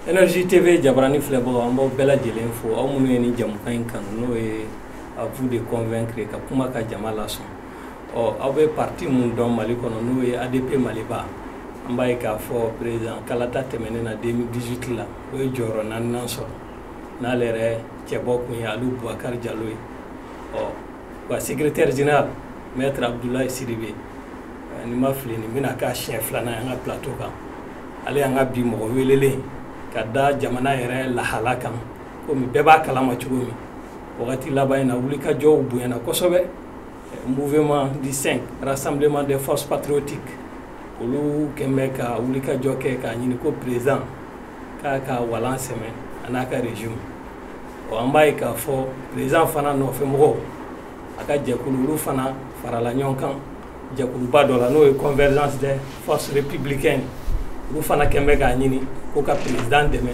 Energie TV jabarani filɛbagaw an b'aw bɛɛ lajɛlen fo aw minnu ye nin jamukan in kanu n'o ye à vous de convaincre ka kuma ka jama lasɔn ɔ aw bɛ parti mun dɔn Mali kɔnɔ n'o ye ADP Maliba an b'a ye k'a fɔ président kalata tɛmɛnen na 2018 la o ye jɔyɔrɔ naaninan sɔrɔ n'ale yɛrɛ cɛbɔ kun ye Alu Bubakari Jalo ye ɔ a secrétaire général maître Abdoulaye Sidibe ni n ma fili nin bɛna k'a siɲɛ filanan ye an ka plateau kan ale y'an ka bi mɔgɔ welelen ka da jamana yɛrɛ lahala kan komi bɛɛ b'a kalama cogo min wagati laban in na wulikajɔw bonyana kosɛbɛ mouvement du 5 rassemblement des forces patriotiques olu kɛn bɛ ka wulikajɔ kɛ k'a ɲini ko président k'a ka walan sɛmɛ a n'a ka régime ɔ an b'a ye k'a fɔ président fana nɔfɛmɔgɔw a ka jɛkulu olu fana farala ɲɔgɔn kan jɛkuluba dɔ la n'o ye convergence des forces républicaines olu fana kɛn bɛ k'a ɲini ko ka président dɛmɛ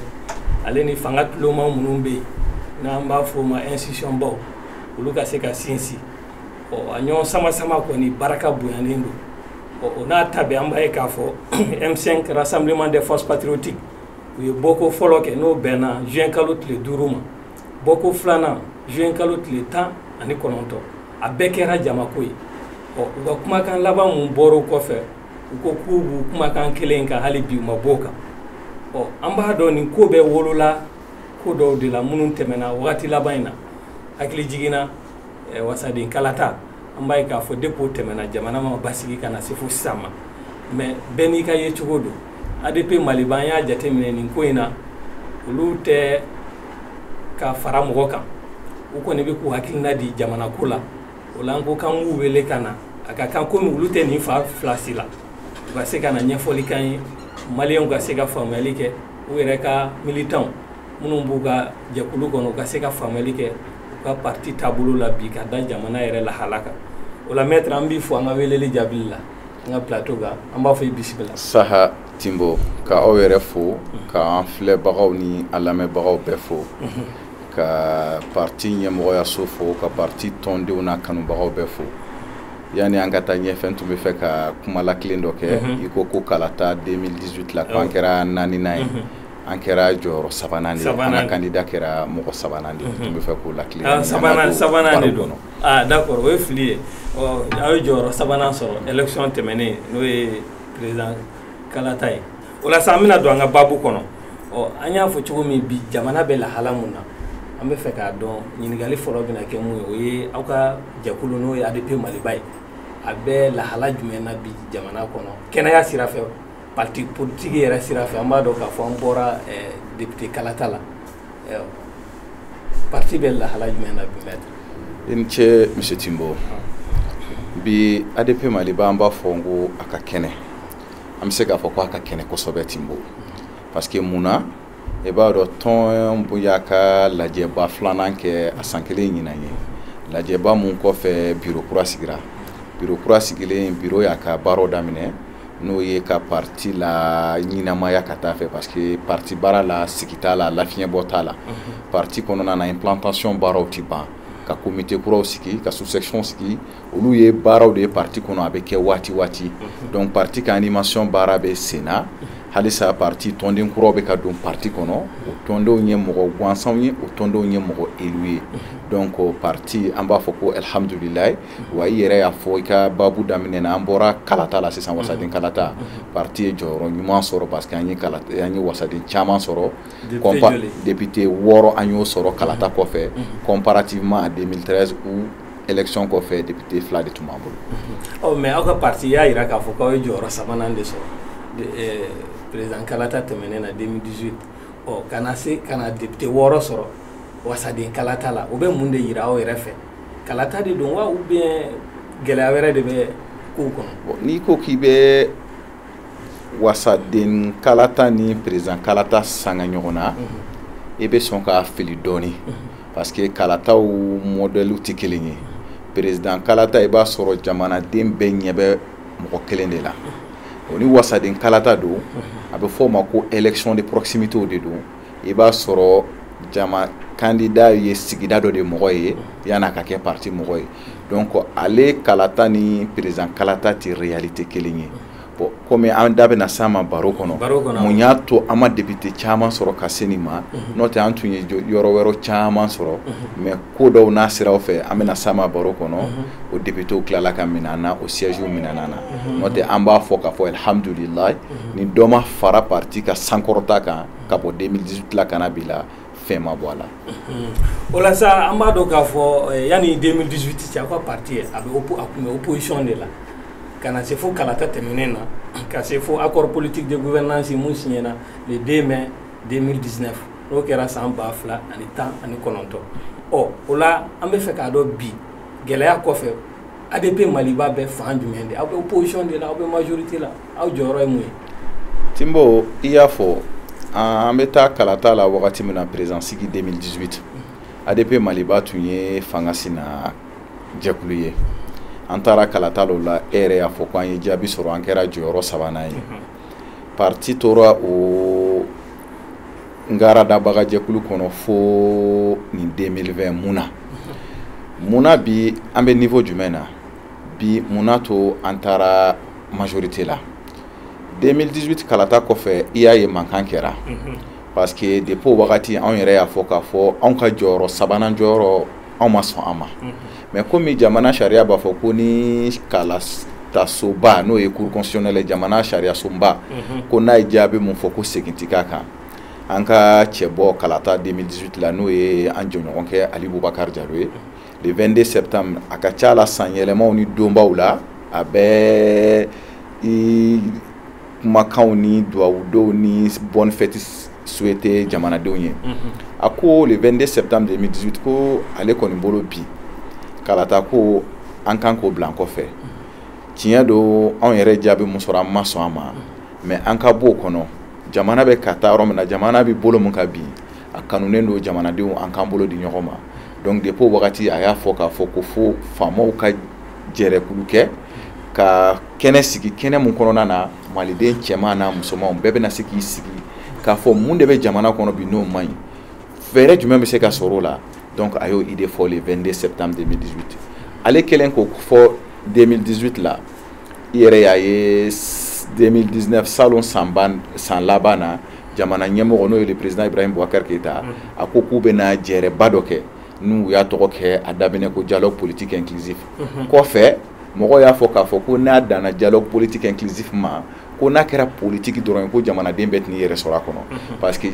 ale ni fanga tuloma minnu bɛ yen n'an b'a fɔ o ma institution baw olu ka se ka sinsin ɔ a ɲɔgɔn sama sama kɔni baraka bonyalen don ɔ o n'a ta bɛɛ an b'a ye k'a fɔ M5 rassemblement des forces patriotiques u ye bɔko fɔlɔ kɛ n'o bɛnna juin kalo tile duuru ma bɔko filanan juin kalo tile tan ani kɔnɔntɔn a bɛɛ kɛra jamako ye ɔ u ka kumakan laban min bɔr'o kɔfɛ u ko k'u b'u kumakan kelen kan hali bi u ma b'o kan ɔ an b'a dɔn nin ko bɛɛ wolola ko dɔw de la minnu tɛmɛna wagati laban in na hakilijigin na eh, wasaden kalata an b'a ye k'a fɔ depuis o tɛmɛna jamana ma basigi ka na se fo sisan ma mais bɛɛ n'i ka yecogo don ADP Maliba an y'a jateminɛ nin ko in na olu tɛ ka fara mɔgɔ kan u kɔni bɛ k'u hakilina di jamana ko la o la an ko k'an k'u wele ka na a ka kan komi olu tɛ nin fan fila si la u ka se ka na ɲɛfɔli k'an ye maliyɛnw ka se ka faamuyali kɛ u yɛrɛ ka militanw minnu b'u ka jɛkulu kɔnɔ u ka se ka faamuyali kɛ u ka parti taabolo la bi ka da jamana yɛrɛ lahala kan o la maître an b'i fo an ka weleli jaabili la an ka plateau kan an b'a fɔ i bisimila saha Timbo ka aw yɛrɛ fo k'an filɛbagaw ni an lamɛnbagaw bɛɛ fo ka parti ɲɛmɔgɔyaso fo ka parti tɔndenw n'a kanubagaw bɛɛ fo yanni an ka taa ɲɛfɛ n tun b'a fɛ ka kuma lakilen dɔ kɛ Mhm. i ko ko kalata 2018 la ko an Awɔ. kɛra naaninan ye Mhm. an kɛra jɔyɔrɔ sabanan de ye an Sabanan. ka kandida kɛra mɔgɔ sabanan de ye n tun b'a fɛ k'o lakilen Ah, sabanan- sabanan de don. aaa d'accord o ye fili ye aw ye jɔyɔrɔ sabanan sɔrɔ élection tɛmɛnen n'o ye président kalata ye o la sa an bɛna don an ka baabu kɔnɔ ɔ an y'a fɔ cogo min bi jamana bɛ lahala min na an bɛ fɛ k'a dɔn ɲininkali fɔlɔ bɛna kɛ mun ye o ye aw ka jɛkulu n'o ye adp maliba ye a bɛ lahala jumɛn na bi jamana kɔnɔ kɛnɛya sira fɛ parti politique yɛrɛ sira fɛ an b'a dɔn k'a fɔ an bɔra député kalata la parti bɛ lahala jumɛn na bi i ni ce monsieur tinbo bi adp maliba an b'a fɔ n ko a ka kɛnɛ an bɛ se k'a fɔ ko a ka kɛnɛ kosɛbɛ tinbo parce que mun na i b'a dɔn tɔn y'a ka lajɛba filanan kɛ a san kelen ɲinan ye lajɛba mun kɔfɛ biro kura sigira biro kura sigilen biro y'a ka baaraw daminɛ n'o ye ka parti laɲinamaya ka taa fɛ parce que parti baara la sigi t'a la lafiɲɛbɔ t'a la mhm. parti kɔnɔna na implantation baaraw tɛ ban ka komite kuraw sigi ka sous-section sigi olu ye baaraw de ye parti kɔnɔ a bɛ kɛ waati waati mhm. donc parti ka animation baara bɛ sen na mhm. halisa parti tɔnden kuraw bɛ ka don parti kɔnɔ o tɔndenw ye mɔgɔ gansanw ye o tɔndenw ye mɔgɔ élu ye donc parti an b'a fɔ ko alihamudulilayi wa i yɛrɛ y'a fɔ i ka baabu daminɛ na an bɔra kalata la sisan wasaden mhm. kalata mhm. parti ye jɔyɔrɔ ɲuman sɔrɔ parce que an ye wasaden caman sɔrɔ député wɔɔrɔ an y'o sɔrɔ kalata mhm. kɔfɛ comparativement à 2013 o élection kɔfɛ député fila de tun b'an bolo. ɔ mais aw ka parti y'a jira k'a fɔ k'aw ye jɔyɔrɔ sabanan de sɔrɔ eh, président kalata tɛmɛnen na 2018 ɔ ka na se ka na député wɔɔrɔ sɔrɔ wasaden kalata la o bɛ mun de jira aw yɛrɛ fɛ. kalata de don wa ou bien gɛlɛya wɛrɛ de bɛ kow kɔnɔ bon n'i ko k'i bɛ wasaden kalata ni président kalata sanga ɲɔgɔn na i bɛ sɔn ka fili dɔɔni parce que kalataw mɔdɛliw tɛ kelen ye président kalata i b'a sɔrɔ jamanaden bɛɛ ɲɛ bɛ mɔgɔ kelen de la o ni wasaden kalata don a bɛ fɔ o ma ko élection de proximité de don i b'a sɔrɔ jama kandida ye sigida dɔ de mɔgɔ ye yan'a ka kɛ parti mɔgɔ ye donc ale kalata ni président kalata tɛ réalité kelen ye bon komi an da bɛna s'a ma baro kɔnɔ mun y'a to an ma député caman sɔrɔ ka se nin ma n'o tɛ an tun ye yɔrɔ wɛrɛ caman sɔrɔ mais ko dɔw n'a siraw fɛ an bɛna s'a ma baro kɔnɔ o députéw tilala ka minɛ an na o siège minɛna an na n'o tɛ an b'a fɔ k'a fɔ alihamudulilayi ni dɔ ma fara parti ka sankɔrɔta kan ka bɔ 2018 la ka na bi la fɛn ma bɔ a la o la sa an b'a dɔn k'a fɔ yanni 2018 cɛ aw ka parti a bɛ a tun bɛ opposition de la ka na se fo kalata tɛmɛnen na ka se fo accord politique de gouvernance min siɲɛna le 2 mai 2019 n'o kɛra san ba fila ani tan ani kɔnɔntɔn ɔ o la an bɛ fɛ k'a dɔn bi gɛlɛya kɔfɛ adp maliba bɛ fan jumɛn de aw bɛ opposition de la aw bɛ majorité la aw jɔyɔrɔ ye mun ye tinbo i y'a fɔ an bɛ taa kalata la wagati min na président sigi 2018 adp maliba tun ye fanga sina jɛkulu ye an taara kalata la o la e yɛrɛ y'a fɔ ko an ye jaabi sɔrɔ an kɛra jɔyɔrɔ sabanan ye parti tora o ngaradabaga jɛkulu kɔnɔ fo nin 2020 mun na mun na bi an bɛ niveau jumɛn na bi mun na to an taara majorité la 2018 kalata kɔfɛ i y'a ye mankan kɛra parce que depuis o wagati anw yɛrɛ y'a fɔ k'a fɔ anw ka jɔyɔrɔ sabanan jɔyɔrɔ anw ma sɔn a ma mais komi jamana sariya b'a fɔ ko ni kalatasoba n'o ye cour constitutionnelle jamana sariya soba ko n'a ye jaabi min fɔ ko segin tɛ k'a kan an ka cɛbɔ kalata 2018 la n'o ye an jɛɲɔgɔnkɛ ali bubakari jalo ye le 22 septembre a ka ca la san yɛlɛmaw ni donbaw la a bɛ kumakanw ni duwawudonw ni bonne fête souhaité jamanadenw ye a ko le 22 septembre 2018 ko ale kɔni bolo bi kalata ko an kan k'o bila an kɔfɛ tiɲɛ don anw yɛrɛ jaabi mun sɔrɔ an ma sɔn a ma mais an ka b'o kɔnɔ jamana bɛ ka taa yɔrɔ min na jamana bɛ bolo min ka bin a kanunen don jamanadenw an k'an bolo di ɲɔgɔn ma donc depuis o wagati a y'a fɔ k'a fɔ ko fo faamaw ka jɛrɛkulu kɛ ka kɛnɛ sigi kɛnɛ mun kɔnɔna na maliden cɛman n'a musomanw bɛɛ bɛna se k'i sigi k'a fɔ mun de bɛ jamana kɔnɔ bi n'o man ɲi fɛɛrɛ jumɛn bɛ se ka sɔrɔ o la donc a y'o idée fɔ le 22 septembre 2018 ale kɛlen k'o fɔ 2018 la i yɛrɛ y'a ye 2019 salon san laban na jamana ɲɛmɔgɔ n'o ye le président ibrahim boubacar keïta a ko k'u bɛna jɛrɛba dɔ kɛ n'u y'a tɔgɔ kɛ a daminɛ ko dialogue politique inclusif kɔfɛ mɔgɔ y'a fɔ k'a fɔ ko n'a danna dialogue politique inclusif ma ko n'a kɛra politiki dɔrɔn ye ko jamanaden bɛɛ tɛn'i yɛrɛ sɔrɔ a kɔnɔ mhm. parce que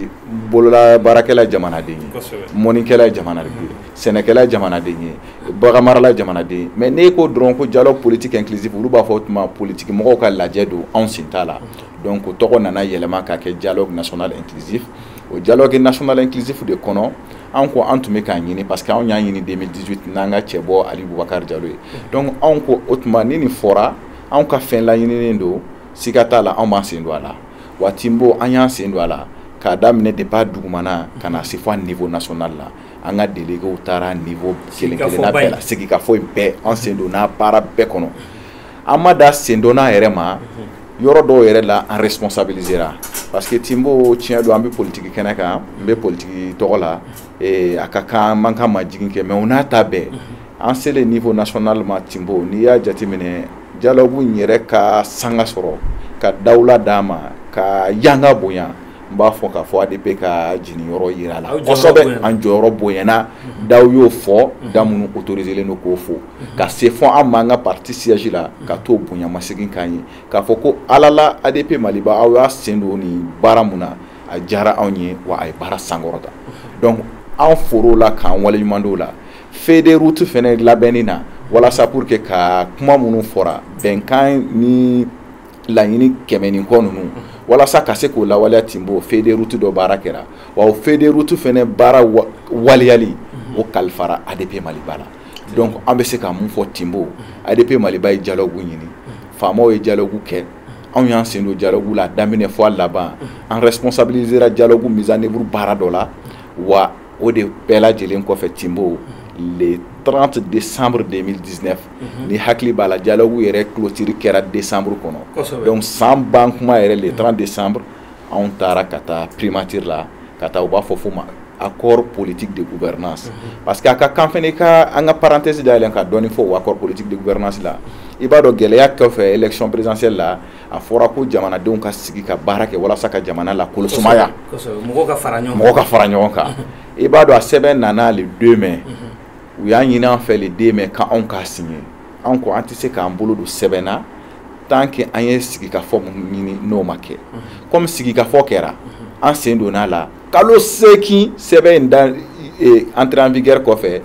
bolola baarakɛla ye jamanaden ye mɔnnikɛla ye jamanaden ye mhm. sɛnɛkɛla ye jamanaden ye baganmarala ye jamanaden ye mais n'e ko dɔrɔn ko dialogue politique inclusif olu b'a fɔ o tuma politiki mɔgɔw ka lajɛ don anw sen t'a la mhm. donc o tɔgɔ nana yɛlɛma ka kɛ dialogue national inclusif o dialogue national inclusif de kɔnɔ anw ko an tun bɛ k'a ɲini parce que anw y'a ɲini 2018 n'an ka cɛbɔ ali bubakari jalo ye donc anw ko o tuma ni nin fɔra anw ka fɛn laɲininen don siga t'a la anw b'an sen don a la wa tinbo an y'an sen don a la k'a daminɛ depuis dugumana ka na se fo a niveau national la an ka delegew taara niveau kelen kelenna bɛɛ la sigikafɔ in bɛɛ an sen donna baara bɛɛ kɔnɔ an ma dan sen donna yɛrɛ ma yɔrɔ dɔw yɛrɛ la an responsabilisera parce que Timbo tiɲɛ don an bɛ politigi kɛnɛ kan n bɛ politigi tɔgɔ la a ka kan an ka majigin kɛ mais o n'a ta bɛɛ an selen niveau national ma Timbo n'i y'a jateminɛ dialogue yɛrɛ ka sanga sɔrɔ ka dawula d'a ma ka yanga bonya n b'a fɔ k'a fɔ ADP ka jigin yɔrɔ yira la kosɛbɛ, an jɔyɔrɔ bonyana daw y'o fɔ da minnu autorisélen don k'o fɔ ka se fo an ma an ka parti siège la ka t'o bonya masegin k'an ye k'a fɔ ko alala ADP Maliba aw y'a sen don nin baara min na a diyara anw ye wa a ye baara sankɔrɔta donc an for'o la k'an waleɲumandɔn o la feuille de route fɛnɛ labɛnni na walasa pour que ka kuma minnu fɔra bɛnkan ni laɲini kɛmɛ ni kɔ ninnu walasa ka se k'o lawaleya Timbo feuille de route dɔ baara kɛra wa o feuille de route fɛnɛ baara waleyali o kalifara ADP Maliba la donc an bɛ se ka mun fɔ Timbo ADP Maliba ye dialogue ɲini faamaw ye dialogue kɛ anw y'an sen don dialogue la a daminɛ fo a laban an responsabilisera dialogue mise en œuvre baara dɔ la wa o de bɛɛ lajɛlen kɔfɛ Timbo le 30 décembre 2019 Mhm. n'i hakili b'a la dialogue yɛrɛ clôture kɛra décembre kɔnɔ donc san ban kuma yɛrɛ le 30 décembre anw taara ka taa primature la ka taa u b'a fɔ fo ma accord politique de gouvernance mhm. parce que a ka kan fɛnɛ i ka an ka parenthèse dayɛlɛn ka dɔɔni fɔ o accord politique de gouvernance la i b'a dɔn gɛlɛya kɔfɛ élection présidentielle la a fɔra ko jamanadenw ka sigi ka baara kɛ walasa ka jamana la ko lasumaya mɔgɔw ka fara ɲɔgɔn kan i b'a dɔn a sɛbɛn nana le 2 mai mhm. u y'a ɲini an fɛ le 2 mai ka anw k'a signer an ko an tɛ se k'an bolo don sɛbɛn na tant que an ye sigikafɔ min ɲini n'o ma kɛ komi sigikafɔ kɛra an sen donna a la kalo seegin sɛbɛn in da eh, entrée en vigueur kɔfɛ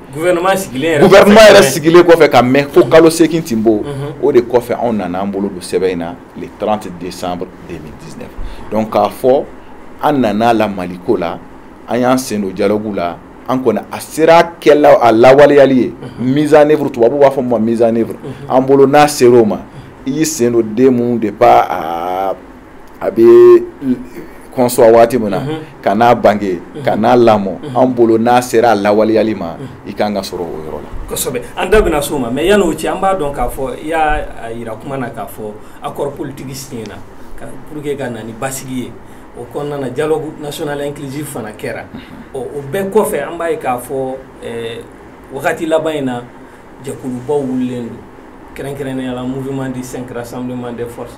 gouvernement yɛrɛ sigilen kɔfɛ ka mɛn fo kalo seegin Timbo Mhm. o de kɔfɛ anw nana an bolo don sɛbɛn in na le 30 décembre 2019 donc k'a fɔ an nana la Mali ko la an y'an sen don dialogue la an ko ni a sera kɛla a lawaleyali ye mise en œuvre tubabu b'a fɔ ma mise en œuvre an bolo n'a sera o ma i y'i sen don den min de ba a a bɛ concevoir waati min na ka n'a bange ka n'a lamɔ an bolo n'a sera a lawaleyali ma i ka kan ka sɔrɔ o yɔrɔ la kosɛbɛ an da bɛna s'o ma mais yann'o cɛ an b'a dɔn k'a fɔ i y'a yira kuma na k'a fɔ accord politique signéna pour que ka na ni basigi ye o kɔnɔna na dialogue national inclusif fana kɛra ɔ o bɛɛ kɔfɛ an b'a ye k'a fɔ wagati laban in na jɛkulubaw wililen don kɛrɛnkɛrɛnnenya la mouvement du cinq rassemblement des forces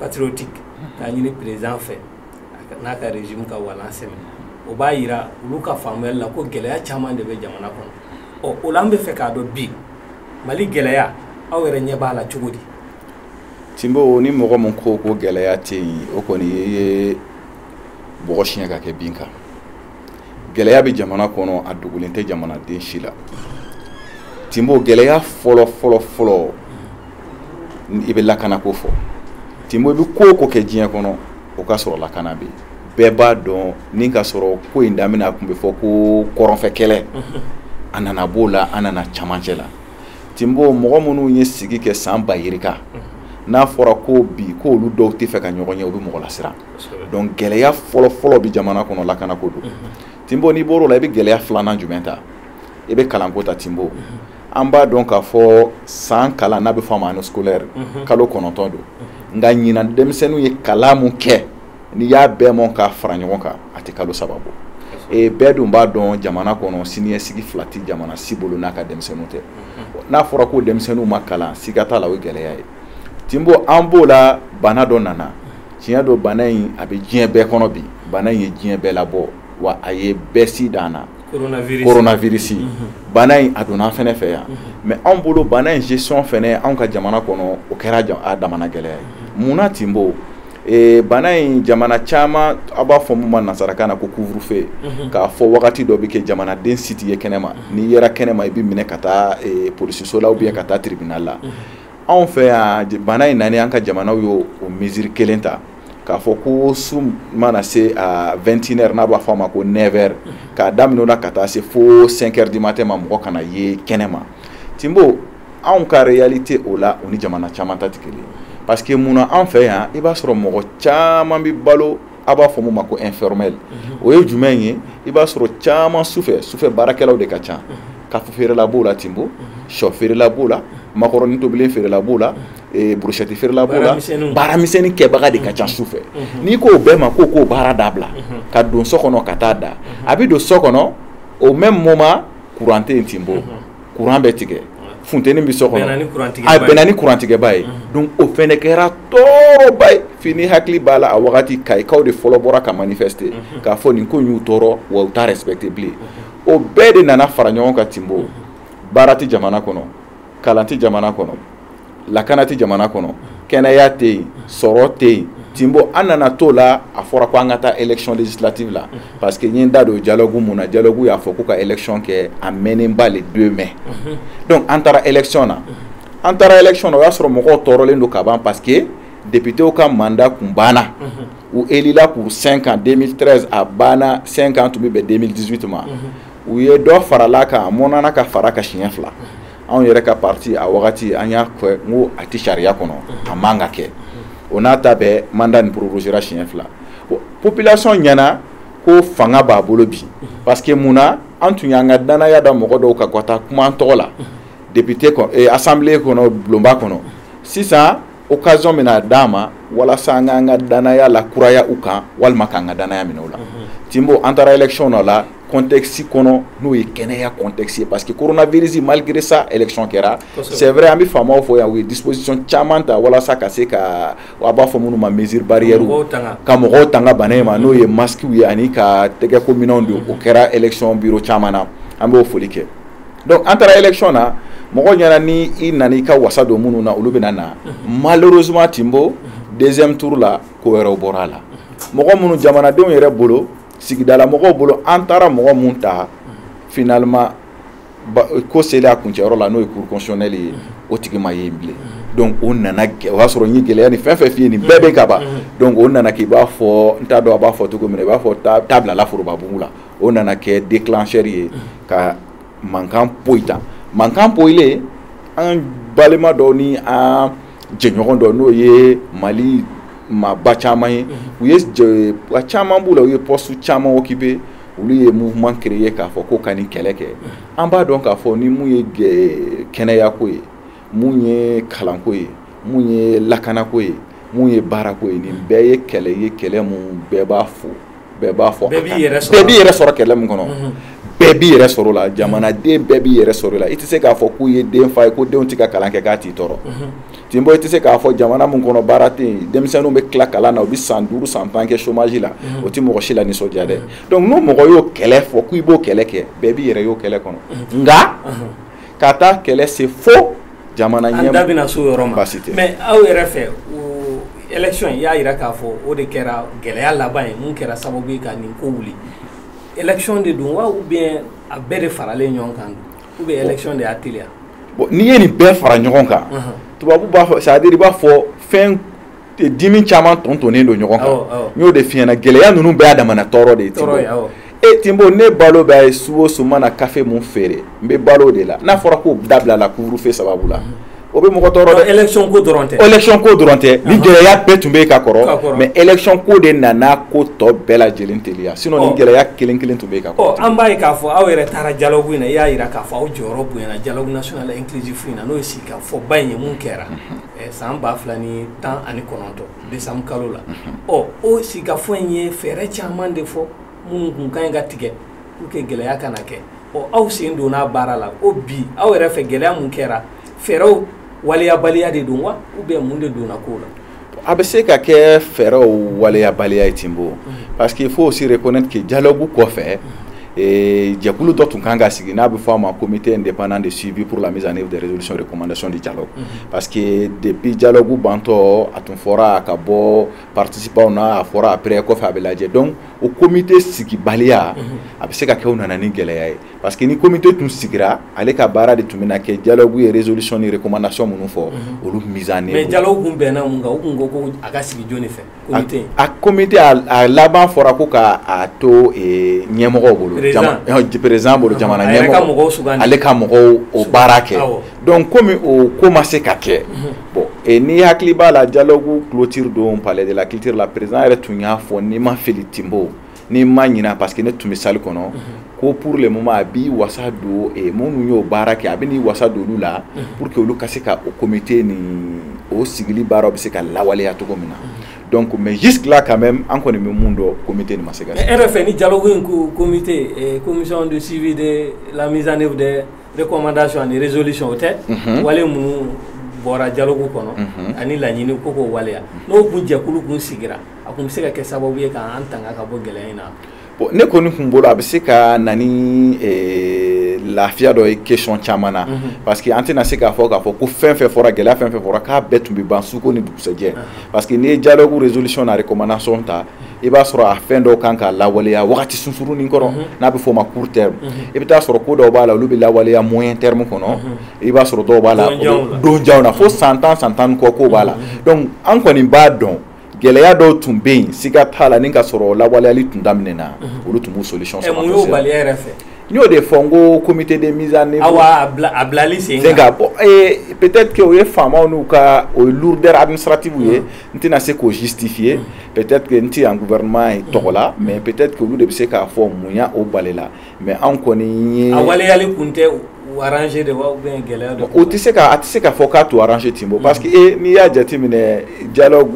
patriotiques k'a ɲini président fɛ n'a ka régime ka walan sɛmɛ o b'a jira olu ka faamuyali la ko gɛlɛya caman de bɛ jamana kɔnɔ ɔ o la an bɛ fɛ k'a dɔn bi mali gɛlɛya aw yɛrɛ ɲɛ b'a la cogo di tinbo ni mɔgɔ min ko ko gɛlɛya tɛ yen o kɔni ye bɔgɔ siɲɛ ka kɛ bin kan gɛlɛya bɛ jamana kɔnɔ a dogolen tɛ jamanaden si la tinbo gɛlɛya fɔlɔ fɔlɔ fɔlɔ i bɛ lakana ko fɔ tinbo i bɛ ko o ko kɛ diɲɛ kɔnɔ o ka sɔrɔ lakana bɛ yen bɛɛ b'a dɔn ni ka sɔrɔ ko in daminɛ a tun bɛ fɔ ko kɔrɔnfɛ kɛlɛ a nana b'o la an nana camancɛ la tinbo mɔgɔ minnu ye sigi kɛ san ba yirika n'a fɔra ko bi ko olu dɔw tɛ fɛ ka ɲɔgɔn ye o bɛ mɔgɔ lasiran donc gɛlɛya fɔlɔfɔlɔ bɛ jamana kɔnɔ lakana ko don tinbo n'i bɔr'o la i bɛ gɛlɛya filanan jumɛn ta i bɛ kalanko ta tinbo an b'a dɔn k'a fɔ san kalan n'a bɛ fɔ a ma année scolaire kalo kɔnɔntɔn don nka ɲinan denmisɛnninw ye kalan min kɛ n'i y'a bɛɛ mɔn k'a fara ɲɔgɔn kan a tɛ kalo saba bɔ ee bɛɛ dun b'a dɔn jamana kɔnɔ siniɲɛsigi fila tɛ jamana si bolo n'a ka denmisɛnninw tɛ n'a fɔra ko denmisɛnninw ma kalan siga t'a la o gɛlɛya ye tinbo an b'o la bana dɔ nana tiɲɛ don bana in a bɛ diɲɛ bɛɛ kɔnɔ bi bana in ye diɲɛ bɛɛ labɔ wa a ye bɛɛ si dan na koronafirisi bana in a donna an fɛnɛ fɛ yan mais anw bolo bana in gestion fɛnɛ anw ka jamana kɔnɔ o kɛra a damana gɛlɛya ye munna tinbo Eh, bana in jamana caman a b'a fɔ min ma nasarakan na ko couvre-feu mhm. k'a fɔ wagati dɔ bɛ kɛ jamanaden si tɛ ye kɛnɛma mhm. n'i yera kɛnɛma i bɛ minɛ ka taa eh, polisiso la ou bien ka taa tribunal la mhm. anw fɛ yan bana in nani an ka jamanaw y'o o mesure kelen ta k'a fɔ ko su mana se a vɛntinɛri n'a b'a fɔ a ma ko nɛvɛri k'a daminɛ o la ka taa se fo sɛnkɛri du matin ma mɔgɔ kana ye kɛnɛma tinbo anw ka réalité o la o ni jamana caman ta tɛ kelen parce que mun na an fɛ yan i b'a sɔrɔ mɔgɔ caman bɛ balo a b'a fɔ mun ma ko informel mhm. o ye jumɛn ye i b'a sɔrɔ caman sufɛ sufɛ baarakɛlaw de ka ca mhm. kafe feerela b'o la tinbo mhm. sɔ feerela b'o la makɔrɔni tobilen feerela b'o la eh, burushɛti feerela b'o la baara misɛnnin kɛbaga de ka ca su fɛ n'i k'o bɛɛ ma k'o k'o baara dabila ka don so kɔnɔ ka taa da a bɛ don so kɔnɔ au même moment courant tɛ yen tinbo kuran bɛ tigɛ funteni bɛ so kɔnɔ a bɛnna ni kurantigɛba ye donc o fɛnɛ kɛra tɔɔrɔba ye fo n'i hakili b'a la a wagati kayikaw de fɔlɔ bɔra ka manifester k'a fɔ nin ko in y'u tɔɔrɔ wa u t'a respecter bilen o bɛɛ de nana fara ɲɔgɔn kan tinbo baara tɛ jamana kɔnɔ kalan tɛ jamana kɔnɔ lakana tɛ jamana kɔnɔ kɛnɛya tɛ yen sɔrɔ tɛ yen Timbo an nana to la a fɔra ko an ka taa election législative la parce que n ye n da don dialogue mun na dialogue y'a fɔ ko ka election kɛ a mɛnnenba le 2 mai donc an taara election na an taara election na o y'a sɔrɔ mɔgɔw tɔɔrɔlen don ka ban parce que députéw ka mandat kun banna u élila pour 5 ans 2013 a banna 5 ans tun bɛ bɛn 2018 ma u ye dɔ farala kan a mɔnana ka fara ka siɲɛ fila anw yɛrɛ ka parti a wagati an y'a kɛ ko a tɛ sariya kɔnɔ a man ka kɛ o n'a ta bɛɛ mandat nin prorogéra siɲɛ fila population ɲɛna ko fanga b'a bolo bi parce que mun na an tun y'an ka danaya da mɔgɔ dɔw kan ka taa kuma an tɔgɔ la député assemblée kɔnɔ bulonba kɔnɔ sisan occasion bɛna d'an ma walasa an k'an ka danaya lakuraya u kan walima k'an ka danaya minɛ u la Timbo an taara election na la contexte kɔnɔ n'o ye kɛnɛya contexte ye parce que coronavirus malgré ça election kɛra c'est vrai an bɛ faamaw fo yan u ye disposition caman ta walasa ka se ka a b'a fɔ minnu ma mesure barrière ka mɔgɔw tanga bana in ma n'o ye masquew ye ani ka tɛgɛko minɛnw di o kɛra election bureau caman na an b'o foli kɛ donc an taara élection na mɔgɔ ɲɛna ni i nana i ka wasa don minnu na olu bɛna na malheureusement Timbo deuxième tour la ko wɛrɛ bɔra a la mɔgɔ minnu jamanadenw yɛrɛ bolo sigidala mɔgɔw bolo an taara mɔgɔ minnu ta finalement ko selen a kuncɛyɔrɔ la n'o ye cour constitutionnelle ye o tigi ma ye bilen donc o nana o y'a sɔrɔ n ye gɛlɛya nin fɛn fɛn f'i ye nin bɛɛ bɛ ka ban donc o nana k'i b'a fɔ n t'a dɔn a b'a fɔ cogo min i b'a fɔ ta bilala forobabugu la o nana kɛ déclencheur ye ka mankan poyi tan mankan poyilen an balima dɔw ni an jɛɲɔgɔn dɔ n'o ye Mali maaba caman ye u ye a caman b'u la u ye poste caman occupé olu ye mouvement créé k'a fɔ ko ka nin kɛlɛ kɛ an b'a dɔn k'a fɔ ni mun ye kɛnɛyako ye mun ye kalanko ye mun ye lakanako ye mun ye baarako ye nin bɛɛ ye kɛlɛ ye kɛlɛ min bɛɛ b'a fɔ bɛɛ b'a fɔ bɛɛ b'i yɛrɛ sɔrɔ kɛlɛ min kɔnɔ mhm. bɛɛ b'i yɛrɛ sɔrɔ la jamanaden bɛɛ b'i yɛrɛ sɔrɔ la i tɛ se k'a fɔ k'u ye denfa ye ko denw tɛ ka kalan kɛ k'a t'i tɔɔrɔ mhm. Timbo i tɛ se k'a fɔ jamana min kɔnɔ baara tɛ yen denmisɛnninw bɛ tila kalan na u bɛ san duuru san tan kɛ chômage la mhm. o tɛ mɔgɔ si la nisɔndiya dɛ donc n'o mɔgɔ y'o kɛlɛ fɔ k'i b'o kɛlɛ kɛ bɛɛ b'i yɛrɛ y'o kɛlɛ kɔnɔ nka ka taa kɛlɛ se fo jamana ɲɛ an da bɛna s'o yɔrɔ ma baasi tɛ mais aw yɛrɛ fɛ o élection in y'a jira k'a fɔ o de kɛra gɛlɛya laban ye mun kɛra sababu ye ka nin ko wuli élection de don wa ou bien a bɛɛ de faralen ɲɔgɔn kan ou bien élection de y'a teliya bon n'i ye nin bɛɛ fara ɲɔgɔn kan tubabu b'a fɔ c'est à dire i b'a fɔ fɛn dimi caman tontonnen don ɲɔgɔn kan n y'o de f'i ɲɛna gɛlɛya ninnu bɛɛ y'a damana tɔɔrɔ de ye Timbo e Timbo ne balo bɛɛ ye su o su mana kafe min feere n bɛ balo o de la n'a fɔra k'o dabila la couvre-feu sababu la o bɛ mɔgɔ tɔɔrɔ dɛ élection ko dɔrɔn tɛ nin gɛlɛya bɛɛ tun bɛ yen ka kɔrɔ mais élection ko de nana ko tɔ bɛɛ lajɛlen teliya sinon nin gɛlɛya kelen kelen tun bɛ yen ka kɔrɔ an b'a ye k'a fɔ aw yɛrɛ taara dialogue in na i y'a jira k'a fɔ aw jɔyɔrɔ bonyana dialogue national inclusif in na n'o ye sigikafɔba in ye mun kɛra san ba fila ni tan ani kɔnɔntɔn décembre kalo la ɔ o sigikafɔ in ye fɛɛrɛ caman de fɔ minnu kun ka ɲi ka tigɛ pour que gɛlɛya kana kɛ ɔ aw sen donna baara la o bi aw yɛrɛ fɛ gɛlɛya min kɛra fɛɛrɛw waleyabaliya de don wa ou bien mun de donna ko la a bɛ se ka kɛ fɛɛrɛw waleyabaliya ye Timbo parce qu'il faut aussi reconnaître que dialogue kɔfɛ Ee jɛkulu dɔ tun kan ka sigi n'a bɛ fɔ a ma comité indépendant de suivi pour la mise en œuvre des résolutions et recommandations du dialogue parce que depuis dialogue bantɔ a tun fɔra a ka bɔ participantw na a fɔra après kɔfɛ a bɛ lajɛ donc o comité sigibaliya a bɛ se ka kɛ o nana ni gɛlɛya ye parce que ni comité tun sigira ale ka baara de tun bɛna kɛ dialogue ye résolution ni recommandation minnu fɔ olu mise en œuvre dialogue kun bɛnna mun kan u kun ko ko a ka sigi jɔnni fɛ a comité a laban fɔra ko k'a to ɲɛmɔgɔw bolo président bolo jamana ɲɛmɔgɔ ale ka mɔgɔw o baara kɛ donc comme o ko ma se ka kɛ bon n'i hakili b'a la dialogue clôture don palais de la culture la président yɛrɛ tun y'a fɔ ni n ma fili Timbo ni n ma ɲina parce que ne tun bɛ salle kɔnɔ ko pour le moment a b'i wasa don eh, minnu y'o baara kɛ a bɛ n'i wasa don olu la pour que olu ka se ka o comité nin o sigili baaraw bɛ se ka lawaleya cogo min na donc mais jusque là quand même an kɔni bɛ mun dɔn comité nin ma se ka. mais e yɛrɛ fɛ ni dialogue in ko comité eh, commission de suivi de la mise en œuvre des recommandations ani résolutions o tɛ. wale minnu bɔra dialogue kɔnɔ ani laɲini ko k'o waleya n'o kun jɛkulu kun sigira. a kun bɛ se ka kɛ sababu ye k'an tanga ka bɔ gɛlɛya in na bon ne kɔni kun bolo a bɛ se ka na ni eh, lafiya dɔ ye question caman na mhm. parce que an tɛna se k'a fɔ k'a fɔ ko fɛn fɛn fɔra gɛlɛya fɛn fɛn fɔra k'a bɛɛ tun bɛ ban suko ni dugusɛjɛ mhm. parce que n'i ye dialogue résolution ni recommandation ta i b'a sɔrɔ a fɛn dɔw kan ka lawaleya wagati sunsurunin kɔnɔ mhm. n'a bɛ fɔ o ma court terme i bɛ taa sɔrɔ ko dɔw b'a la olu bɛ lawaleya moyen terme kɔnɔ i b'a sɔrɔ dɔw b'a la donjanw na fo san tan san tan ni kɔ ko b'a la donc an kɔni b'a dɔn gɛlɛya dɔw tun bɛ yen siga t'a la ni ka sɔrɔ lawaleyali tun daminɛna mhm. olu tun b'u solution sɔrɔ mun y'o bali aw yɛrɛ fɛ n y'o de fɔ n ko comité de mise en œuvre awa a bilali sen kan bon ee peut-être que o ye faamaw n'u ka o ye lourdeur administrative ye mhm. n tɛna se k'o justifier mhm. peut-être que n tɛ yan gouvernement ye tɔgɔ la mais peut-être que olu de bɛ se k'a fɔ mun y'a o balila mais anw kɔni a waleyali tun tɛ u arranger de gɛlɛya don o tɛ se a tɛ se k'a fɔ k'a t'u arranger Tinbo parce que e n'i y'a jate minɛ dialogue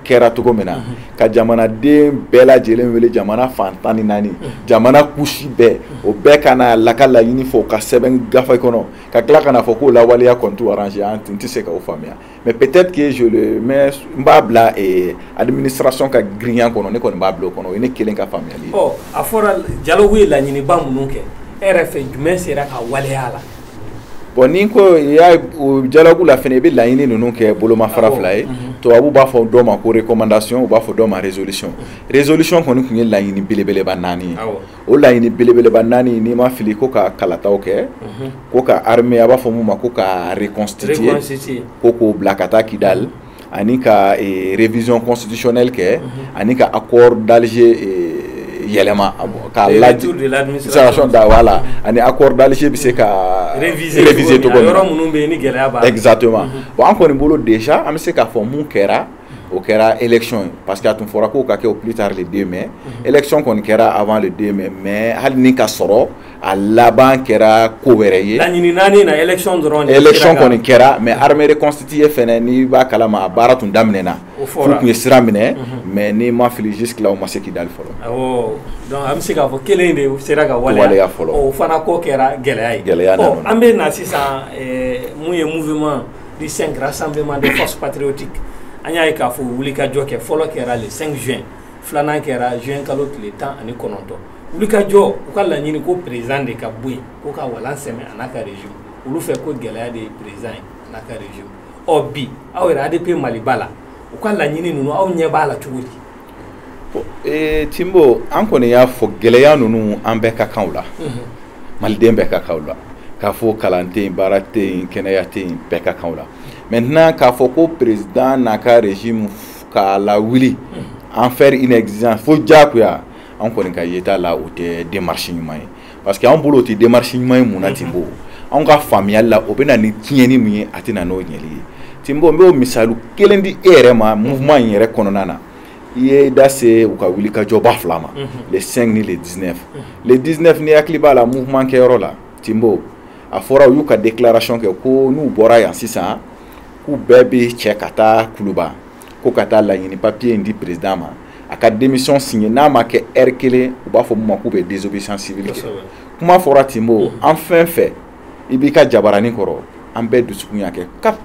kɛra cogo min na ka jamanaden bɛɛ lajɛlen wele jamana fan tan ni naani jamana couche bɛɛ o bɛɛ ka na la ka laɲini fɔ ka sɛbɛn gafe kɔnɔ ka tila ka na a fɔ k'o lawaleya kɔni t'u arranger an tun tɛ se k'o faamuya Mais peut-être que je le mets n b'a bila eh, administration ka girinya kɔnɔ ne kɔni b'a bila o kɔnɔ o ye ne kelen ka faamuyali ye. Ɔ a fɔra dialogue ye laɲiniba minnu kɛ e yɛrɛ fɛ jumɛn sera ka waleya a la. Bon ni ko i y'a ye o dialogue la fɛnɛ i bɛ laɲini ninnu kɛ bolomafara fila ye tubabu b'a fɔ dɔ ma ko recommandation u b'a fɔ dɔ ma résolution résolution kɔni tun ye laɲini belebeleba naani ye. o laɲini belebeleba naani n'i ma fili ko ka kalataw kɛ mhm. ko ka armée a b'a fɔ mun ma ko ka reconstituer ko k'o bila ka taa Kidali mhm. ani ka eh, révision constitutionnelle kɛ mhm. ani ka accord d'Alger eh, yɛlɛma k'a lajɛ administration da voilà ani accord d'Alger bɛ se ka réviser cogo min yɔrɔ minnu bɛ yen ni gɛlɛya b'a la exactement bon an kɔni bolo déjà an bɛ se k'a fɔ mun kɛra o kɛra élection ye parce que a tun fɔra k'o ka kɛ au plus tard le 2 mai mhm. élection kɔni kɛra avant le 2 mai mais hali ni ka sɔrɔ a laban kɛra ko wɛrɛ ye laɲini naani na élection dɔrɔn de élection kɔni kɛra mais armée reconstituée fɛnɛ n'i b'a kalama a baara tun daminɛna f'u tun ye sira minɛ mhm. mais n'i ma fili jusque là o ma se Kidali fɔlɔ awɔ donc an bɛ se k'a fɔ kelen de sera ka waleya fɔlɔ o fana ko kɛra gɛlɛya ye gɛlɛya nana an bɛ na sisan eh, mun ye mouvement du 5 rassemblement des forces patriotiques an y'a ye k'a fɔ wulikajɔ kɛ fɔlɔ kɛra le 5 juin filanan kɛra juin kalo tile tan ani kɔnɔntɔn wulikajɔ u ka laɲini ko président de ka bɔ yen ko ka walan sɛmɛ a n'a ka régime olu fɛ ko gɛlɛya de ye président ye a n'a ka régime ɔ bi aw yɛrɛ ADP Maliba la u ka laɲini ninnu aw ɲɛ b'a la cogo di Eh, Tinbo an kɔni y'a fɔ gɛlɛya ninnu an bɛɛ ka kan la mhm. maliden bɛɛ ka kan la k'a fɔ kalan tɛ yen baara tɛ yen kɛnɛya tɛ yen bɛɛ ka kan la maintenant k'a fɔ ko président n'a ka régime k'a lawuli mhm. en faire une exigence fo diyagoya an kɔni ka yeta la o tɛ démarche ɲuman ye parce que anw bolo o tɛ démarche ɲuman ye mun na Tinbo anw ka faamuyali la o bɛ na ni tiɲɛni min ye a tɛ na n'o ɲɛli ye Tinbo n b'o misali kelen di e yɛrɛ ma mouvement in yɛrɛ kɔnɔna na i ye da se u ka wulikajɔba fila ma le 5 ni le 19 le 19 n'i hakili b'a la mouvement kɛyɔrɔ la Tinbo a fɔra u y'u ka déclaration kɛ ko n'u bɔra yan sisan k'u bɛɛ bɛ cɛ ka taa Kuluba ko ka taa laɲini papier in di président ma a ka démission signer n'a ma kɛ heure kelen u b'a fɔ min ma k'u bɛ désobéissance civile kɛ kuma fɔra tinbo an fɛn fɛn i b'i ka jabarani kɔrɔ an bɛɛ dusukun y'a kɛ kap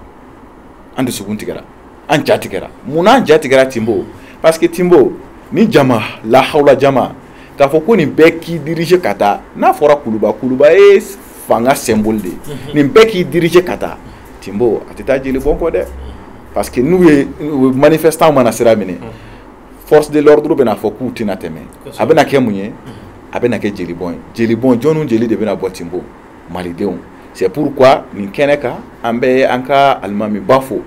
an dusukun tigɛra an ja tigɛra munna an ja tigɛra tinbo parce que tinbo ni jama lahawla jama k'a fɔ ko nin bɛɛ k'i diriger ka taa n'a fɔra kuluba kuluba ye fanga symbole de ye mhm. nin bɛɛ k'i diriger ka taa tinbo a tɛ taa jeli bɔn kɔ dɛ parce que n'u ye manifestant mana sira minɛ mhm. force de l'ordre bɛna fɔ k'u tɛna tɛmɛ a bɛna kɛ mun ye a bɛna kɛ jeli bɔn ye jeli bɔn jɔnniw jeli de bɛna bɔ tinbo malidenw c'est pourquoi nin kɛnɛ kan an bɛ an ka alimamiba fo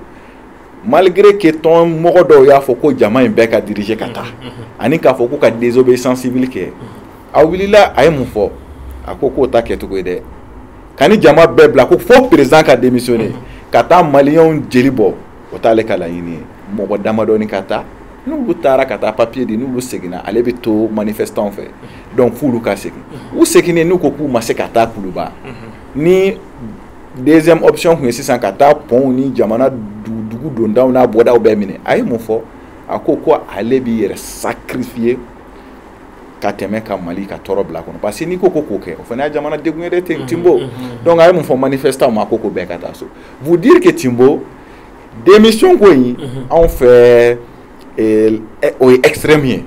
malgré que tɔn mɔgɔ dɔw y'a fɔ ko jama in bɛɛ ka diriger ka taa ani k'a fɔ k'u ka désobéissance civile kɛ a wulila a ye mun fɔ a ko k'o t'a kɛcogo ye dɛ ka nin jama bɛɛ bila ko fo président ka démissionner ka taa maliyɛnw jeli bɔ o t'ale ka laɲini ye mɔgɔ damadɔni ka taa n'olu taara ka taa papier di n'olu seginna ale bɛ to manifestanw fɛ donc f'olu ka segin u seginnen n'u ko k'u ma se ka taa kuluba ni deuxième option tun ye sisan ka taa pɔnw ni jamana dugu dondaw n'a bɔdaw bɛɛ minɛ a ye mun fɔ a ko ko ale b'i yɛrɛ sacrifier ka tɛmɛ ka mali ka tɔɔrɔ bila kɔnɔ parce que n'i ko ko k'o kɛ o fana y'a jamana degun ye dɛ mhm, tinbo mhm, mhm. donc a ye mun fɔ manifestanw ma ko ko bɛɛ ka taa so vous dire que tinbo démission ko in anw fɛ eh, eh, o ye extrême ye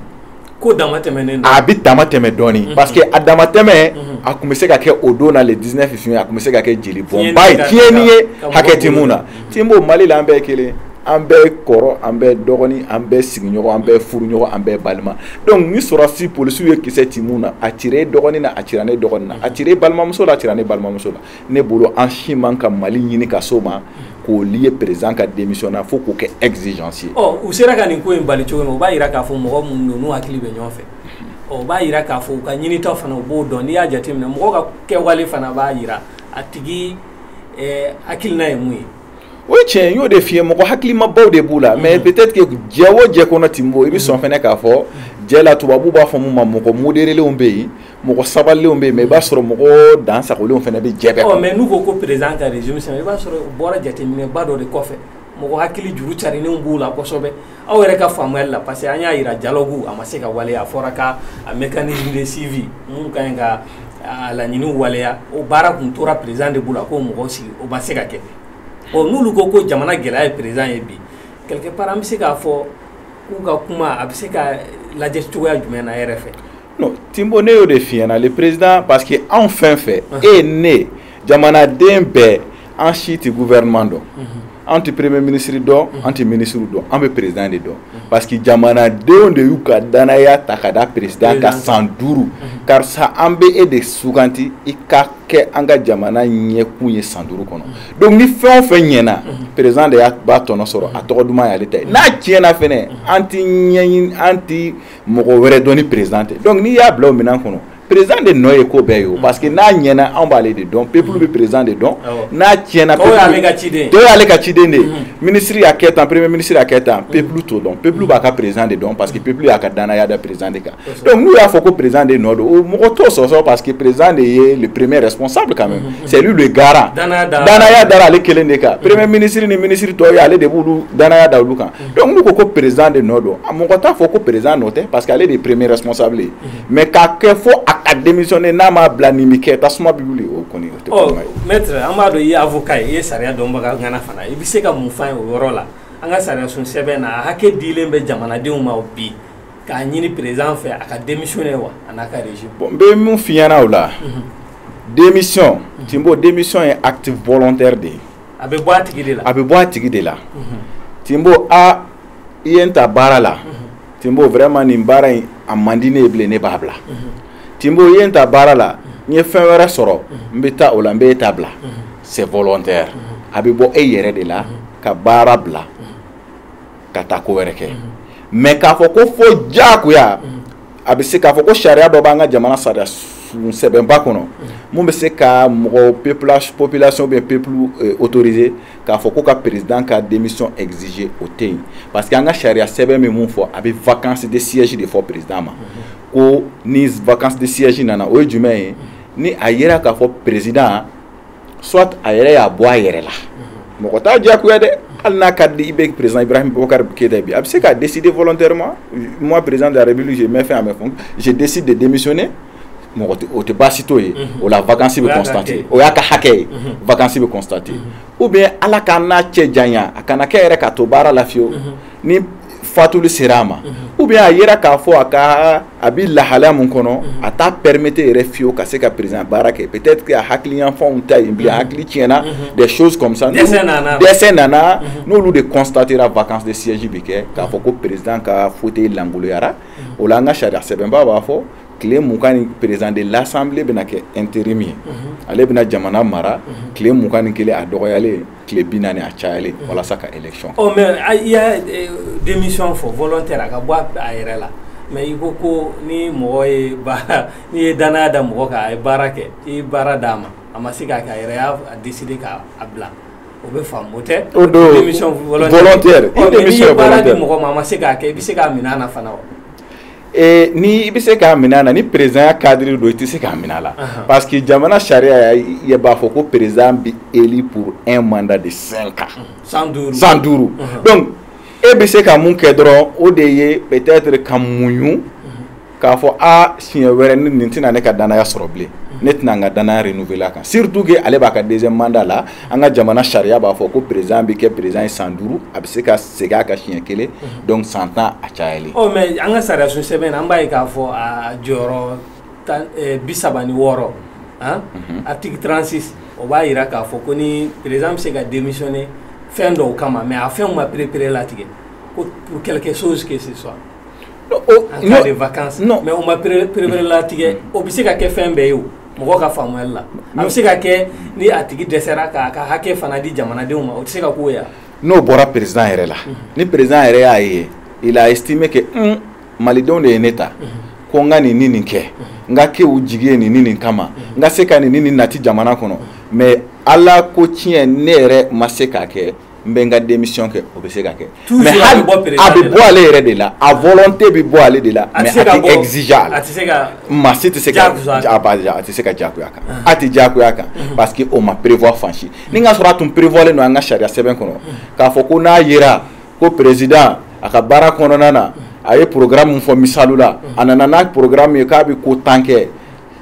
ko dama tɛmɛnen a bɛ dama tɛmɛ dɔɔni parce que a dama tɛmɛ a tun bɛ se ka kɛ o don na le 19 juin a tun bɛ se ka kɛ jeli bɔnba ye tiɲɛni ye hakɛ tɛ mun na tinbo mali la an bɛɛ kelen an bɛɛ kɔrɔ an bɛɛ dɔgɔnin an bɛɛ sigiɲɔgɔn an bɛɛ furuɲɔgɔn an bɛɛ balima donc ni sɔrɔsi polisiw ye kisɛ ci min na a cira e dɔgɔnin na a cira ne dɔgɔnin na a cira e balimamuso la a cira ne balimamuso la ne bolo an si man ka mali ɲini ka s'o ma k'o lier président ka démission na fo k'o kɛ exigence ye u sera ka nin ko in bali cogo min o b'a jira k'a fɔ mɔgɔ minnu don n'u hakili bɛ ɲɔgɔn fɛ o b'a jira k'a fɔ u ka ɲinitaw fana u b'o dɔn n'i y'a jateminɛ mɔgɔ ka kɛwale fana b'a jira a tigi ɛɛ hakilina ye mun ye o ye tiɲɛ y'o de f'i ye mɔgɔ hakilimabaw de b'u la mais peut-être que jɛ o jɛ kɔnɔ Tinbo i bɛ sɔn fɛnɛ k'a fɔ jɛ la tubabuw b'a fɔ mun ma mɔgɔ modérélenw bɛ yen mɔgɔ sabalilenw bɛ yen mais i b'a sɔrɔ mɔgɔ dansagolenw fɛnɛ bɛ jɛ bɛɛ ɔ kɔnɔ mais n'u ko ko président ka régime sɛbɛn i b'a sɔrɔ u bɔra jateminɛba dɔ de kɔfɛ mɔgɔ hakili juru carinenw b'u la kosɛbɛ aw yɛrɛ ka faamuyali la parce que an y'a jira dialogue a ma se ka waleya a fɔra ka a mécanisme de suivi mun ka ɲi ka a laɲiniw waleya o baara tun tora président de bolo a k'o mɔgɔw sigi o ma se ka kɛ bon n'olu ko ko jamana gɛlɛya ye président ye bi quelque part an bɛ se k'a fɔ k'u ka kuma a bɛ se ka lajɛ cogoya jumɛn na e yɛrɛ fɛ Timbo ne y'o de f'i ɲɛna le président parce que anw fɛn fɛn e ne jamanaden bɛɛ an si tɛ gouvernement dɔn an tɛ premier ministre dɔn an tɛ ministre dɔn an bɛ président de dɔn parce que jamanadenw de y'u ka danaya ta ka da président kan san duuru karisa an bɛ e de suganti i ka kɛ an ka jamana ɲɛkun ye san duuru kɔnɔ donc ni fɛn o fɛn ɲɛna président de y'a b'a tɔnɔ sɔrɔ a tɔgɔ duman y'ale ta ye n'a tiɲɛna fɛnɛ an tɛ ɲɛɲini an tɛ mɔgɔ wɛrɛ dɔn ni président tɛ donc n'i y'a bila o minɛn kɔnɔ président de nɔ ye ko bɛɛ ye o parce que n'a ɲɛna anw b'ale de dɔn peuple bɛ président de dɔn n'a tiɲɛna dɔw y'ale ka ciden dɔw y'ale ka ciden de ye ministre y'a kɛ tan premier ministre y'a kɛ tan peuple t'o dɔn peuple b'a ka président de dɔn parce que peuple y'a ka danaya da président de kan donc n'u y'a fɔ ko président de nɔ don o mɔgɔ t'o sɔsɔ parce que président de ye le premier responsable quand même c'est lui le garant danaya dara ale kelen de kan premier ministre ni ministre tɔw ye ale de b'olu danaya da olu kan donc n'u ko ko président de nɔ don mɔgɔ t'a fɔ ko président nɔ tɛ parce que ale de ye premier responsable ye mhm. mais k'a kɛ fo a ka démissionner n'a m'a bila nin bɛ kɛ tasuma bɛ wuli o kɔni o tɛ ko ɲuman ye. maître an b'a dɔn i ye avocat ye i ye sariya dɔnbaga ŋana fana i bɛ se ka mun f'an ye o yɔrɔ la an ka sariyasun sɛbɛn na a hakɛ dilen bɛ jamanadenw ma bi k'a ɲini président fɛ a ka démissionner wa a n'a ka régime. bon n bɛ mun f'i ɲɛna o la. Mhm. démission. Mhm. Timbo démission ye acte volontaire de ye. a bɛ bɔ a tigi de la a bɛ bɔ a tigi de la Timbo aa i ye n ta baara la Timbo vraiment nin baara in a man di ne ye bilen ne b'a bila Timbo i ye n ta baara la n ye fɛn wɛrɛ sɔrɔ n bɛ taa o la n bɛ e ta bila c'est volontaire a bɛ bɔ e yɛrɛ de la ka baara bila ka taa ko wɛrɛ kɛ mais k'a fɔ ko fo diyagoya a bɛ se k'a fɔ ko sariya dɔ b'an ka jamana sariyasun sɛbɛnba kɔnɔ min bɛ se ka mɔgɔ population bɛ peuple autoriser k'a fɔ ko ka président ka démission exiger o tɛ yen parce que an ka sariya sɛbɛn bɛ mun fɔ a bɛ vacance de siège de fɔ président ma ko ni vacance de siège nana o ye jumɛn ye ni a yera k'a fɔ président soit a yɛrɛ y'a bɔ a yɛrɛ la mɔgɔ t'a diyagoya dɛ hali n'a ka di i bɛ président Ibrahim Boubacar Keïta ye bi a bɛ se ka décider volontairement moi président de la République je mets fin à mes fonctions je décide de démissionner mɔgɔ o tɛ baasi t'o ye mhm. o la vacance bɛ constater o y'a ka hakɛ ye mhm. vacance bɛ constater mhm. ou bien Ala k'an n'a cɛ janya a kana kɛ yɛrɛ k'a to baara la fiyewu. ni fatuli sera a ma ou bien a yera k'a fɔ a ka a bɛ lahala min kɔnɔ a t'a permettre yɛrɛ fiyewu ka se ka président baara kɛ peut-être a hakili yanfanw tɛ yen bilen hakili tiɲɛna des choses comme ça dɛsɛ nana n'olu de constatera vacance de siège bɛ kɛ k'a fɔ ko président ka fauteuil lankoloyara o la an ka sariya sɛbɛnba b'a fɔ tile mugan ni président de l'assemblée bɛna kɛ intérim ye ale bɛna jamana mara tile mugan ni kelen a dɔgɔyalen tile bi naani a cayalen walasa ka élection ɔ mais a- i y'a eh, démission fɔ volontaire a ka bɔ a- a yɛrɛ la mais i ko ko ni mɔgɔ ye baara n'i ye danaya da mɔgɔ kan a ye baara kɛ i ye baara d'a ma a ma se k'a kɛ a yɛrɛ y'a décider k'a bila o bɛ faamu o tɛ O don, démission volontaire. Ɔ, mais n'i ye baara di mɔgɔ ma a ma se k'a kɛ i bɛ se k'a minɛ a na fana wa Ni i bɛ se k'a minɛ a na ni présidentya cadre don i tɛ se k'a minɛ a la parce que jamana sariya ɲɛ b'a fɔ ko président bɛ élu pour un mandat de cinq ans san duuru donc e bɛ se ka mun kɛ dɔrɔn o de ye peut-être ka muɲu k'a fɔ aa siɲɛ wɛrɛ nin tɛna ne ka danaya sɔrɔ bilen ne tɛna n ka danaya renouveler a kan surtout que ale b'a ka deuxième mandat la an ka jamana sariya b'a fɔ ko président bɛ kɛ président ye san duuru a bɛ se ka segin a kan siɲɛ kelen mhm. donc san tan a cayalen ɔ mais an ka sariyasun sɛbɛn na an b'a ye k'a fɔ a jɔyɔrɔ eh, bi saba ni wɔɔrɔ mhm. article 36 o b'a yira k'a fɔ ko ni président bɛ se ka démissionner fɛn dɔw kama mais a fɛnw ma perepere latigɛ ko pour quelque chose que ce soit en cas de vacances mais o ma perepere latigɛ o bɛ se ka kɛ fɛn bɛɛ ye o mɔgɔ ka faamuyali la a bɛ se ka kɛ ni a tigi dɛsɛra k'a ka hakɛ fana di jamanadenw ma o tɛ se ka k'o ye n'o bɔra président yɛrɛ la ni président yɛrɛ y'a ye il a estimé que malidenw de ye ne ta ko n ka nin ni nin kɛ n ka kɛ u jigi ye nin ni nin kama n ka se ka nin ni nin nati jamana kɔnɔ mais ala ko tiɲɛ ne yɛrɛ ma se k'a kɛ n bɛ n ka démission kɛ o bɛ se ka kɛ mais a bɛ bɔ ale yɛrɛ de la a volonté bɛ bɔ ale de la mais a maa si tɛ se a tɛ se ka jagoya kan a tɛ jagoya kan parce que o ma prévoir fan si ni ka sɔrɔ a tun prévoirlen don an ka sariya sɛbɛn kɔnɔ k'a fɔ ko n'a yera ko président a ka baara kɔnɔna na a ye programme min fɔ misali la a nana n'a programme ye k'a bɛ ko tan kɛ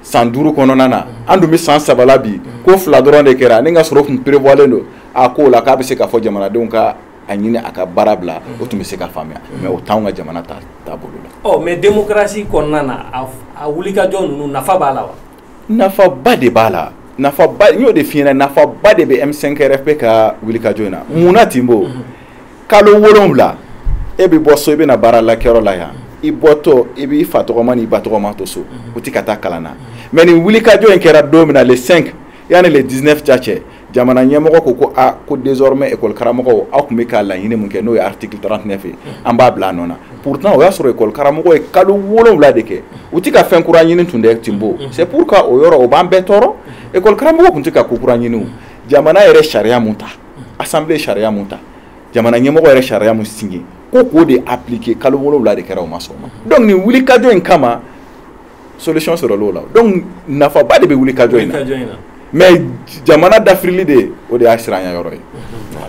san duuru kɔnɔna na an dun bɛ san saba la bi ko fila dɔrɔn de kɛra ni ka sɔrɔ tun prévoirlen don a ko la k'a bɛ se k'a fɔ jamanadenw ka a ɲini a ka baara bila o tun bɛ se ka faamuya mais o t'anw ka jamana taabolo la. ɔ mais démocratie kɔnɔna na a wulikajɔ ninnu nafa b'a la wa. nafaba de b'a la nafaba n y'o de f'i ɲɛna nafaba de bɛ M5RFP ka wulikajɔ in na mun na Tinbo mhm. kalo wolonwula e bɛ bɔ so i bɛna baara la kɛyɔrɔ la yan i bɔtɔ i b'i fa tɔgɔma n'i ba tɔgɔma to so mhm. u ti ka taa kalan na mais nin wulikajɔ in kɛra don min na le 5 yanni le 19 ca cɛ jamana ɲɛmɔgɔ ko ko a ko désormais école karamɔgɔw aw tun bɛ ka laɲini min kɛ n'o ye article 39 ye an b'a bila a nɔ na pourtant o y'a sɔrɔ école karamɔgɔw ye kalo wolonwula de kɛ u tɛ ka fɛn kura ɲini tun dɛ Tinbo c'est pourquoi o yɔrɔ o b'an bɛɛ tɔɔrɔ école karamɔgɔw tun tɛ ka ko kura ɲini o jamana yɛrɛ sariya mun ta assemblée sariya mun ta jamana ɲɛmɔgɔ yɛrɛ sariya mun signé ko k'o de appliquer kalo wolonwula de kɛra o ma sɔn o ma donc nin wulikajɔ in kama solution sɔrɔl'o la donc nafaba de bɛ wulikajɔ in na mais jamana dafirili de o de y'a siranya yɔrɔ ye.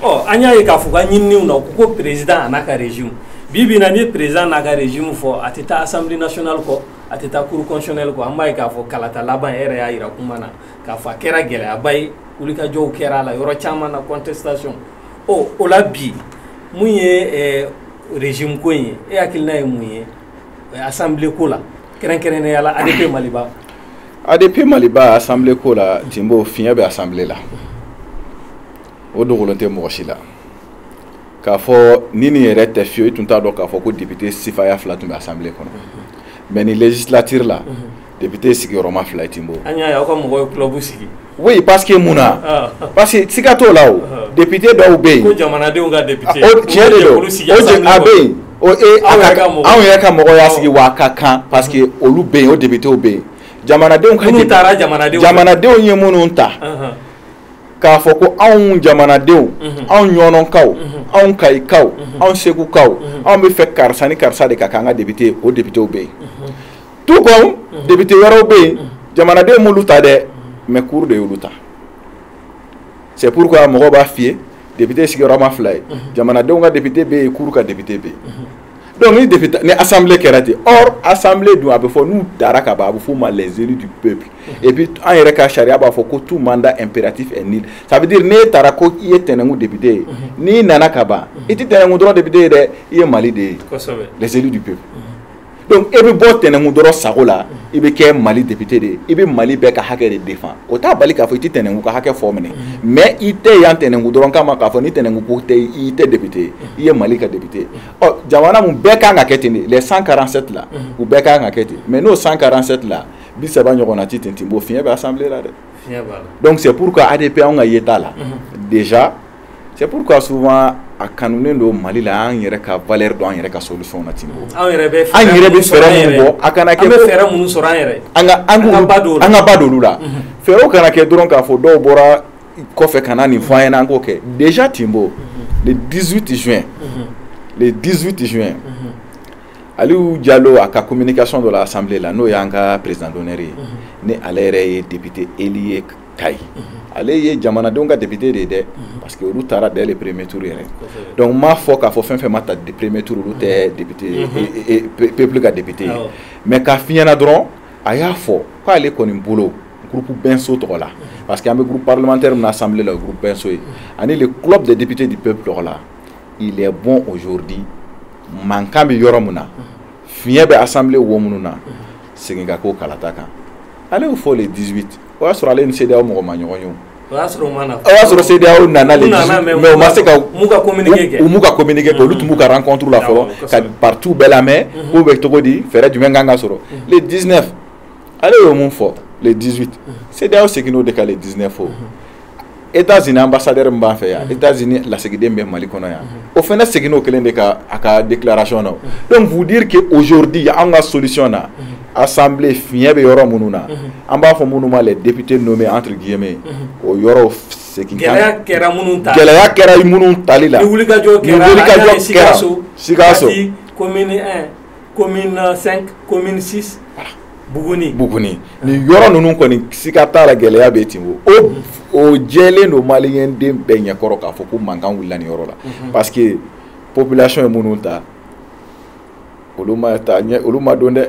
ɔ an y'a ye k'a fɔ ka ɲininiw na ko président an'a ka régime bi bi in na n'i ye président n'a ka régime fɔ a tɛ taa assemblée nationale kɔ a tɛ taa cour constitutionnelle kɔ an b'a ye k'a fɔ kalata laban yɛrɛ y'a jira kuma na k'a fɔ a kɛra gɛlɛyaba ye wulikajɔw kɛra a la yɔrɔ caman na contestation ɔ o la bi mun ye régime ko in ye e hakilina ye mun ye. assemblée ko la kɛrɛnkɛrɛnnenya la ADP Maliba ADP Maliba assemblée ko la Tinbo fiɲɛ bɛ assemblée la o dogolen tɛ mɔgɔ si la k'a fɔ ni nin yɛrɛ tɛ fiyewu i tun t'a dɔn k'a fɔ ko député sifaya fila tun bɛ assemblée kɔnɔ mais nin législature la député sigiyɔrɔma fila ye Tinbo an y'a ye aw ka mɔgɔw ye club sigi oui parce que mun na ah. parce que siga t'o la o ah. député dɔw bɛ yen ko jamanadenw ka député ah, o tiɲɛ de don o jɛ a bɛ yen o e anw yɛrɛ ka mɔgɔw y'a sigi wa a ka kan parce que olu bɛ yen o députéw bɛ yen jamanadenw ka minnu taara jamanadenw jamanadenw ye minnu ta k'a fɔ ko anw jamanadenw mhm. anw ɲɔnɔnkaw mhm. anw kayikaw mhm. anw segukaw anw b'a fɛ karisa ni karisa de ka k'an ka député o députéw bɛ yen tout comme député wɛrɛw bɛ yen jamanadenw m'olu ta dɛ mais cour de y'olu ta c'est pourquoi mɔgɔw b'a f'i ye député sigiyɔrɔma fila ye jamanadenw ka député bɛ yen cour ka député bɛ yen donc ni député ni assemblée kɛra ten or assemblée dun a bɛ fɔ n'u tara ka ban a bɛ f'u ma les élus du peuple et puis an yɛrɛ ka sariya b'a fɔ ko tout mandat impératif est nul ça veut dire n'e taara ko i ye tɛnɛnku député ye n'i nana ka ban i tɛ tɛnɛnku dɔrɔn député ye dɛ i ye Mali de ye les élus du peuple. donc e bɛ bɔ tɛnɛnku dɔrɔn sago la i bɛ kɛ Mali député de ye i bɛ Mali bɛɛ ka hakɛ de défend o t'a bali k'a fɔ i tɛ tɛnɛnku ka hakɛ fɔ minɛ mais i tɛ yan tɛnɛnku dɔrɔn kama k'a fɔ ni tɛnɛnku ko tɛ i tɛ député ye i ye Mali ka député ye ɔ jamana mumɛ bɛɛ kan ka kɛ ten de les 147 la u bɛɛ kan ka kɛ ten mais n'o 147 la bi saba ɲɔgɔnna ti ten Tinbo fiɲɛ bɛ assemblée la dɛ donc c'est pourquoi ADP anw ka yeta la déjà C'est pourquoi souvent a kanunen don Mali la an yɛrɛ ka valeur dɔn an yɛrɛ ka solution na Tinbo an yɛrɛ bɛ fɛɛrɛ minnu bɔ a kana kɛ an bɛ fɛɛrɛ minnu sɔrɔ an yɛrɛ an ka an ka ba don an ka ba don olu la fɛɛrɛw kana kɛ dɔrɔn k'a fɔ dɔw bɔra kɔfɛ ka na nin fɔ an ɲɛna an k'o kɛ déjà Tinbo le 18 juin le 18 juin Aliou Diallo a ka communication dɔ la assemblée la n'o y'an ka président d'honneur ye ni ale yɛrɛ ye député élu ye Kayi ale ye jamanadenw ka député de ye dɛ parce que olu tara dès le premier tour yɛrɛ donc m'a fɔ k'a fɔ fɛn fɛn ma ta premier tour olu tɛ député peuple ka député ye mais k'a f'i ɲɛna dɔrɔn a y'a fɔ k'ale kɔni bolo groupe Benso tɔgɔ la parce que an bɛ groupe parlementaire min na assemblée la o groupe Benso ye ani le club des députés du peuple tɔgɔ la il est bon aujourd'hui mankan bɛ yɔrɔ min na fiɲɛ bɛ assemblée wo minnu na segin ka k'o kalata kan ale y'o fɔ le 18 o y'a sɔrɔ ale ni CEDEAO mɔgɔ ma ɲɔgɔn ye o. O y'a sɔrɔ u ma na. O y'a sɔrɔ CEDEAO nana le 18 mais u ma se ka. U m'u ka communiqué kɛ. U m'u ka communiqué kɛ olu tun b'u ka rencontre la fɔlɔ ka partis bɛɛ lamɛn k'u bɛ cogo di fɛɛrɛ jumɛn kan ka sɔrɔ le 19 ale y'o min fɔ le 18 CEDEAO seginn'o de kan le 19 o. États-Unis ambassadeur min b'an fɛ yan États-Unis lasigiden bɛ Mali kɔnɔ yan o fana seginn'o kelen de kan a ka déclaration na donc vous dire que aujourd'hui anw ka solution na assemblée fiɲɛ bɛ yɔrɔ minnu na an b'a fɔ minnu ma les députés nommés entre guillemets o yɔrɔw segin gɛlɛya kɛra minnu ta gɛlɛya kɛra minnu tali la ni wulikajɔ kɛra Sikaso Sikaso commune 1 commune 5 commune 6 Buguni Buguni nin yɔrɔ ninnu kɔni siga t'a la gɛlɛya bɛ ten o o jɛlen don maliyɛn den bɛɛ ɲɛkɔrɔ k'a fɔ ko mankan wulila nin yɔrɔ la mhm. parce que population ye minnu ta olu ma ta ɲɛ olu ma don dɛ